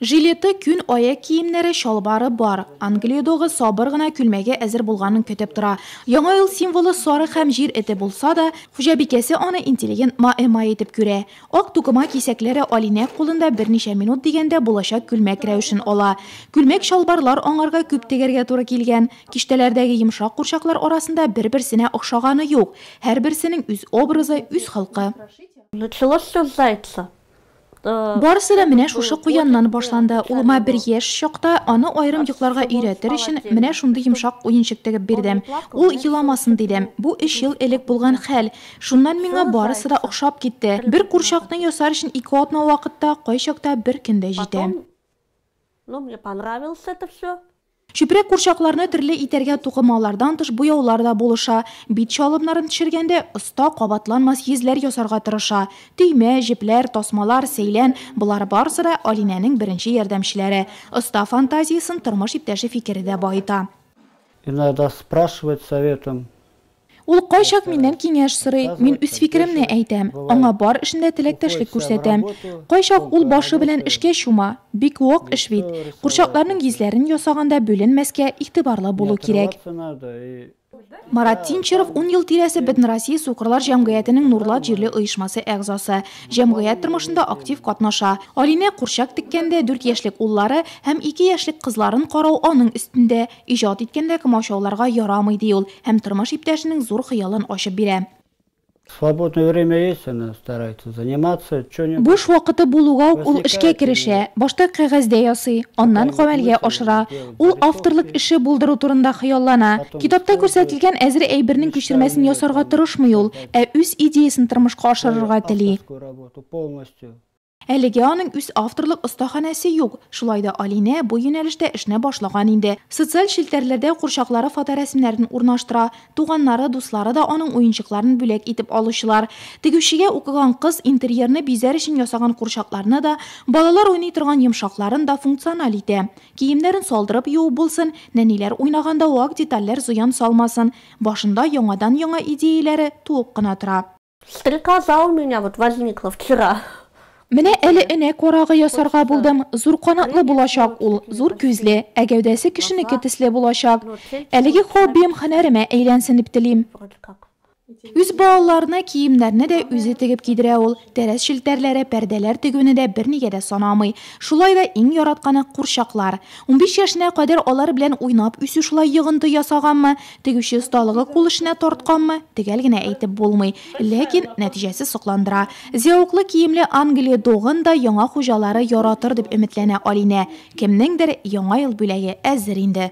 Жилеты, күн аяк киемнәре, чалбары бар. Англия догы сабыр гына күлмәге әзер булганын көтеп тора. Яңа ел символы сарык һәм җир эте булса да, хуҗабикәсе аны интеллигент маэмай итеп күрә. Ак тукыма кисәкләре Алинә кулында берничә минут дигәндә булачак күлмәк рәвешен ала. Күлмәк-чалбарлар аңарга күп тегәргә туры килгән. Киштәләрдәге йомшак курчаклар арасында бер-берсенә охшаганы юк. Һәрберсенең үз образы, үз холкы. Началось всё с зайца. Барысы да менә шушы куяннан башланды. Улыма бер яшь чакта, аны аерым йокларга өйрәтер өчен, менә шундый йомшак уенчык тегеп бирдем. Ул еламасын дидем. Бу өч ел элек булган хәл. Шуннан миңа барысы да охшап китте. Бер курчакны ясар өчен ике атна вакыт та, кайчакта бер көн дә җитә. Чүпрәк курчакларны төрле итәргә тукымалардан тыш буяулар да булыша. Бит чалымнарын төшергәндә, оста кабатланмас йөзләр ясарга тырыша. Төймә, җепләр, тасмалар, сәйлән, болар барысы да, Алинәнең беренче ярдәмчеләре. Оста фантазиясен тормыш иптәше фикере дә баета. Иногда спрашивает советом Ул кайчак миннән киңәш сорый, мин үз фикеремне әйтәм, аңа бар эшендә теләктәшлек күрсәтәм. Кайчак ул башы белән эшкә чума. Бик вак эш бит. Курчакларның йөзләрен ясаганда бүленмәскә, игътибарлы булу кирәк. Марат Тинчеров ун ел тирәсе Бөтенроссия сукырлар җәмгыятенең Нурлат җирле оешмасы әгъзасы. Җәмгыять тормышында актив катнаша. Алинә курчак теккәндә, дүрт яшьлек уллары һәм ике яшьлек кызларын карау аның өстендә. Иҗат иткәндә комачауларга ярамый, ди ул һәм тормыш иптәшенең зур хыялын ачып бирә. Свободное время есть, она старается заниматься чё-нибудь. Буш вакыты булуга ук ул эшкә керешә. Башта кәгазьдә ясый, аннан гамәлгә ашыра. Ул авторлык эше булдыру турында хыяллана. Китапта күрсәтелгән әзер әйбернең күчермәсен ясарга тырышмый ул, ә үз идеясен тормышка ашырырга тели. Әлегә аның үз авторлык остаханәсе юк, шулай да Алинә бу юнәлештә эшне башлаган инде. Социаль челтәрләрдә курчаклары фоторәсемнәрен урнаштыра, туганнары, дуслары да аның уенчыкларын бүләк итеп алучылар. Тегүчегә укыган кыз интерьерны бизәр өчен ясаган курчакларны да, балалар уйный торган йомшакларын да функциональ итә. Киемнәрен салдырып юу булсын, нәниләр уйнаганда вак детальләр зыян салмасын, башында яңадан-яңа идеяләре туып кына тора. Стрекоза у меня вот возникла вчера. Менә әле энә корагы ясарга булдым. Зур канатлы булачак ул, зур күзле, ә гәүдәсе кешенеке төсле булачак. Әлеге хоббием хәнәремә әйләнсен дип телим. Үз балаларына киемнәрне дә үзе тегеп кидерә ул. Тәрәз челтәрләре, пәрдәләр тегүне дә бернигә дә санамый. Шулай да иң яратканы курчаклар. 15 яшенә кадәр алар белән уйнап үсү шулай йогынты ясаганмы? Тегүче осталыгы кул эшенә тартканмы, төгәл генә әйтеп булмый, ләкин нәтиҗәсе сокландыра. Зәвыклы киемле Англия догын да яңа хуҗалары яратыр дип өметләнә Алинә. Кемнеңдер Яңа ел бүләге әзер инде.